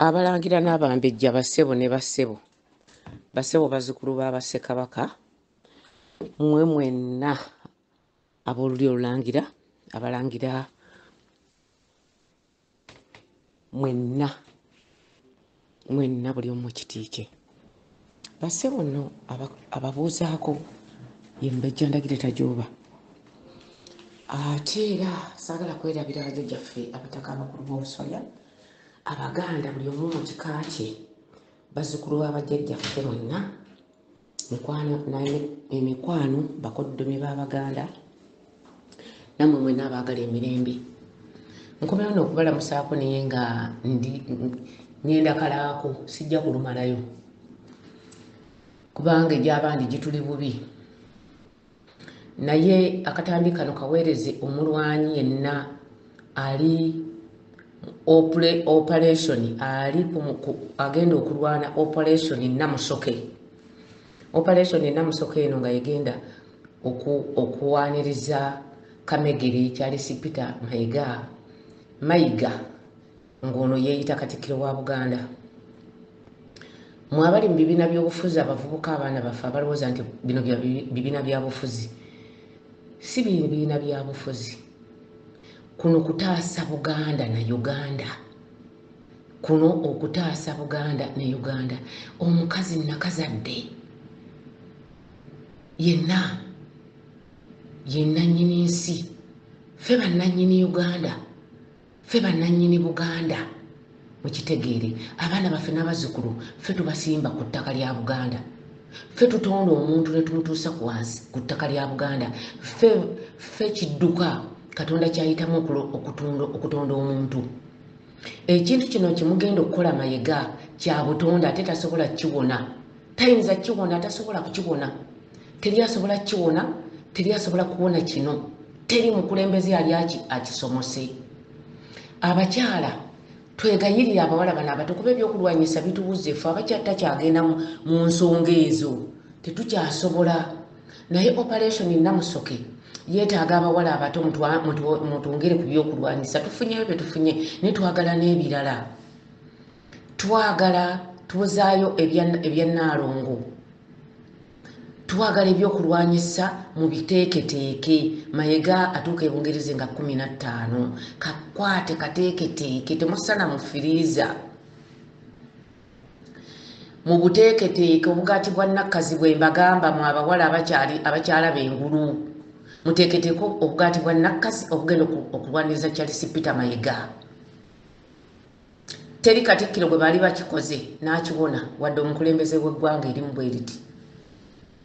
abalangira n'abambejja bassebo ne bassebo bassebo bazukulu ba bassekabaka mwe mwenna ab'olulyo olulangira abalangira mwenna mwenna buli omu kitiike Bassebo nno ababuuzaako ye Mubajja Ndagire Tajooba. Ate era saagala kwerabira bajajja ffe abataka abakulu b'obusolya Abaganda buli omu mu kika kye bazzukulu ba bajajja ffe mwenna mikwano emikwano bakoddomi b'Abaganda namwe mwena abaagala emirembe nkomera no okubalamusaako naye nga ndi ngenda kalaako sijja kulumalayo kubanga egyabandi gituli bubi naye akatambi kano kaweereze omulwanyi yenna ali operation ali agenda okulwana operation namusoke Operation e Namusoko eno nga yegenda oku, okuwaniriza Kamegere Charles Peter Mayiga Mayiga ng'ono yeeyita Katikkiro wa Buganda. Mwabali mu bibiina by'obufuzi abavubuka abaana baffe abalowooza nti bino bibiina bya bufuzi. Si bibiina bya bufuzi. Kuno kutaasa Buganda na Uganda. kuno okutaasa buganda ne uganda omukazi nakazadde yenna yenanyini nsi fe bananyini uganda fe bananyini buganda mukitegeere abaana baffe n'abazukulu fe tubasimba ku ttaka lya buganda fe tutonda omuntu netumutuusa ku wansi ku ttaka lya buganda fe kidduka katonda kyayitamu okutonda omuntu ekintu kino kimugenda okukola mayega kyabutonde ate tasobola kiwona tayinza kiwona atasobola kukiwona teri asobola kiwona teri asobola kuwona kino teri mukulembeze yali aki akisomose abakyala twegayirire abawala bano abato kuba ebyokulwanyisa bituwuzefu abakyatakyagenda mu nsonga ezo tetukyasobola Naye operation namusoke yetaaga abawala abato mutwongere ku byokulwanyisa tufunyeyo byetufunye naye twagala n'ebirala twagala tuzaayo ebya naalongo twagala ebyokulwanyisa mu biteeketeeke mayega atuuka ebungereze nga kumi na ttaano kakwate kateeketeeke temusana mu firiiza mu buteeketeeke obugaati bwa nakkazi bwe mbagamba mu abawala abakyali abakyala bengulu muteeketeeke obugaati bwa nakkazi obugenda okulwaniriza charles peter mayiga teri katikkiro gwe baali bakikoze n'akiwona wadde omukulembeze w'eggwanga erimu bwe riti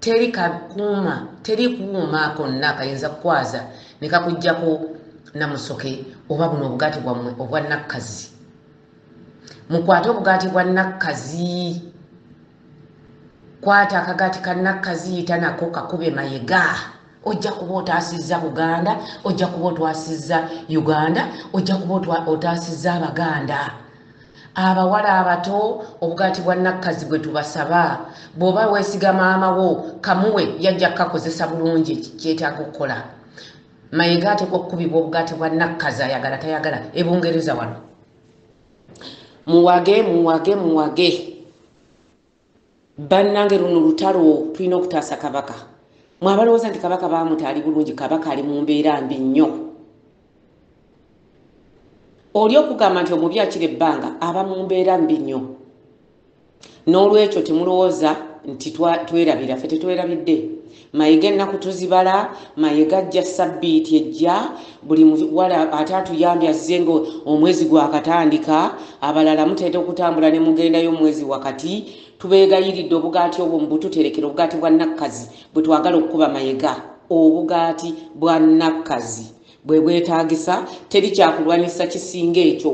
teri kakuuma teri kuuma konna kayinza kukwaza ne kakuggyako namusoke oba buno obugaati bwammwe obwa nakkazi mukwate obugaati bwa nakkazi kwata akagaati ka nakkazi yita nako kakube mayega ojja kuba otaasizza buganda ojja kuba otwasizza uganda ojja kuba otaasizza abaganda abawala abato obugaati bwa nakkazi bwe tubasaba bw'oba weesiga maama wo kamuwe yajja kukakozesa bulungi kyetaaga okukola mayega atekwa okukubibwa obugaati bwa nakkazi ayagala tayagala ebungereza wano muwage muwage muwage Bannange luno lutalo tulina okutaasa kabaka. Mwe abalowooza nti kabaka baamuta ali bulungi, kabaka ali mu mbeera mbi nnyo. Oli okugamba nti omubi akira ebbanga aba mu mbeera mbi nnyo. N'olwekyo temulowooza nti twerabira, ffe tetwerabidde. Mayega ennaku tuzibala, Mayega ajja ssabbiiti ejja, buli muwala ate atuyambye azze nga omwezi gwakatandika, abalala mutera okutambula ne mugendayo mu mwezi wakati, tubeegayiridde obugaati obwo mubututerekere, obugaati bwa Nakkazi bwe twagala okukuba Mayega. Obugaati bwa Nakkazi bwe bwetaagisa, teri kyakulwanyisa kisinga ekyo.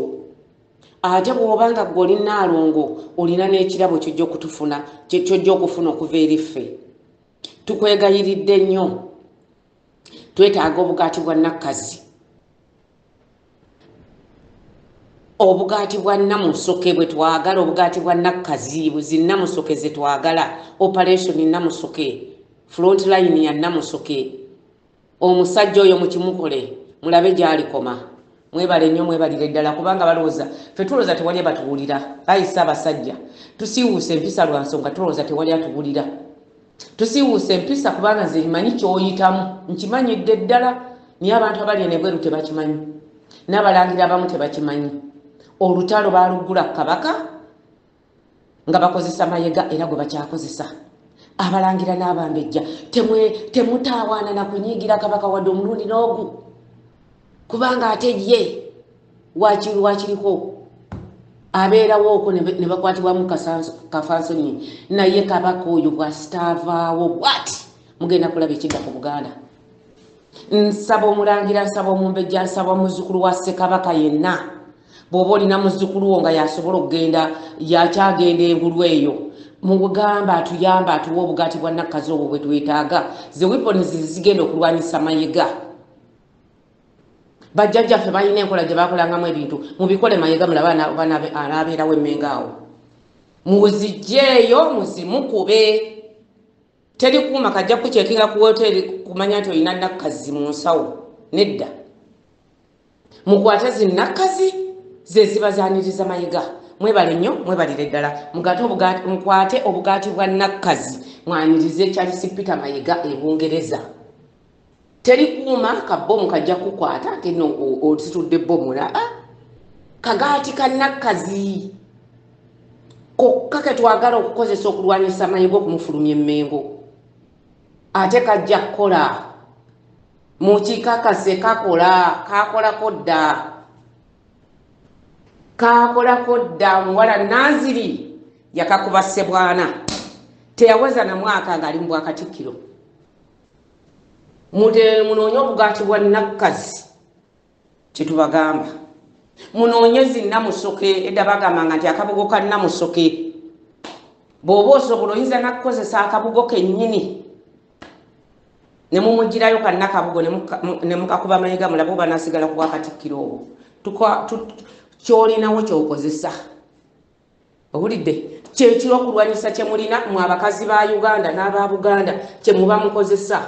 Ate bw'oba nga ggwe oli Nnaalongo olina n'ekirabo ky'ojja okutufuna, ky'ojja okufuna okuva eri ffe. tukwegayiridde nnyo twetaaga obugaati bwa nakkazi obugaati bwa namusoke bwe twagala obugaati bwa nakkazi buzi namusoke ze twagala operation namusoke front line ya namusoke omusajja oyo mukimukole mulabe gyalikoma mwebale nnyo mwebalire ddala kubanga balowooza fe tulowooza tewali abatuwulira ayise abasajja tusiiwuusa empisa lwa nsonga tulowooza tewali atuwulira tusiiwuusa empisa kubanga nze nkimanyi kyoyitamu nkimanyidde ddala naye abantu abali enebweru tebakimanyi n'abalangira abamu tebakimanyi olutalo baaluggula ku kabaka nga bakozesa mayega era gwe bakyakozesa abalangira n'abambejja temutaawaana na kunyiigira kabaka wadde omulundi n'ogu kubanga ate ye wakiri wakiriko abeerawo okwo ne bakwatibwamu kafansonyi naye kabaka oyo bwasitaavaawo bwati mugenda kulaba ekidda ku buganda nsaba omulangira nsaba omumbejja nsaba muzukulu wa ssekabaka yenna bw'oba olina muzukulu wo nga yasobola okugenda yakyagenda engulu eyo mugamba atuyamba atuwa obugaati bwa nakkazi obwo bwe twetaaga ze weapons zigenda okulwanyisa mayega bajjajjaffe balina enkola gye bakolangamu ebintu mubikole mayega mulaba anaabeerawo emmenga awo muzijjeeyo muzimukube teri kuuma kajja kukyekinga ku woteeri kumanya nti olina nakkazi mu nsawo nedda mukwate zinakkazi zeziba zaniriza mayiga mwebale nnyo mwebalire ddala mukwate obugaati bwa nakkazi mwaniriza ekyalisi peter mayiga ebungereza teri kuuma ka bomu kajja kukwata ate no ositudde bomu la ah, kagaati kanakkazi kokka ke twagala okukozesa okulwanyisa amanyi g'okumufulumya emmengo ate kajja kukola mukikakase kakola kakolako dda kakolako dda omuwala naziri yakakuba sebwana teyaweza na mwaka ng'ali mu bwakatikkiro Mugende munoonye obugaati bwa nakkazi kyetubagamba munoonye zi namusoke edda bagambanga nti akabugo ka namusoke bw'oba osobola oyinza nakukozesa akabugo kennyini ne mumugirayo kannakabugo ne mukakuba mayiga mulabe oba nasigala ku bwakatikkiro obwo kyolinawo kyokozesa owulidde kyekiro okulwanyisa kyemulina mu abakazi ba uganda n'aba buganda kyemuba mukozesa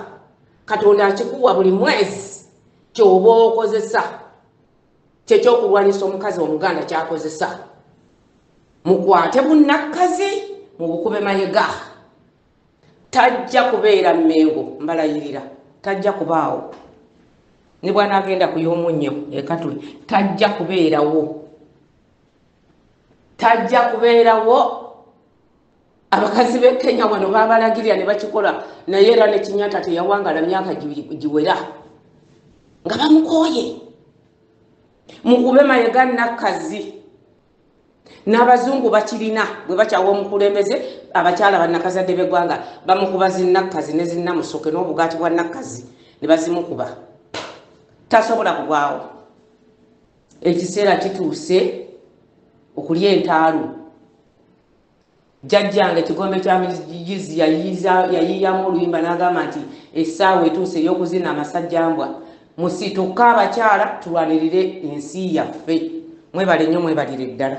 katonda akikuwa buli mwezi kyoba okozesa kyekyokulwanyisa omukazi omuganda kyakozesa mukwate bunakkazi mubukube mayega tajja kubeera mmengo mbalayirira tajja kubaawo ne bwanagenda kuyomunnyo ekatuli tajja kubeerawo tajja kubeerawo abakazi b'e kenya wano babalagirira ne bakikola naye era ne kinyata teyawangala myaka giwera nga bamukooye mukube mayega nakkazi n'abazungu bakirina bwe bakyawa omukulembeze abakyala bannakazadde b'eggwanga bamukuba zinnakkazi ne zinnamusoke n'obugaati bwa nakkazi ne bazimukuba tasobola kugwawo ekiseera kituuse okulya entaalu jjajjange ekigombe kya mizizi yayiyamu oluyimba n'agamba nti essaawa etuuse ey'okuzina amasajjambwa musituka abakyala tulwanirire ensi yaffe mwebale nnyo mwebalire ddala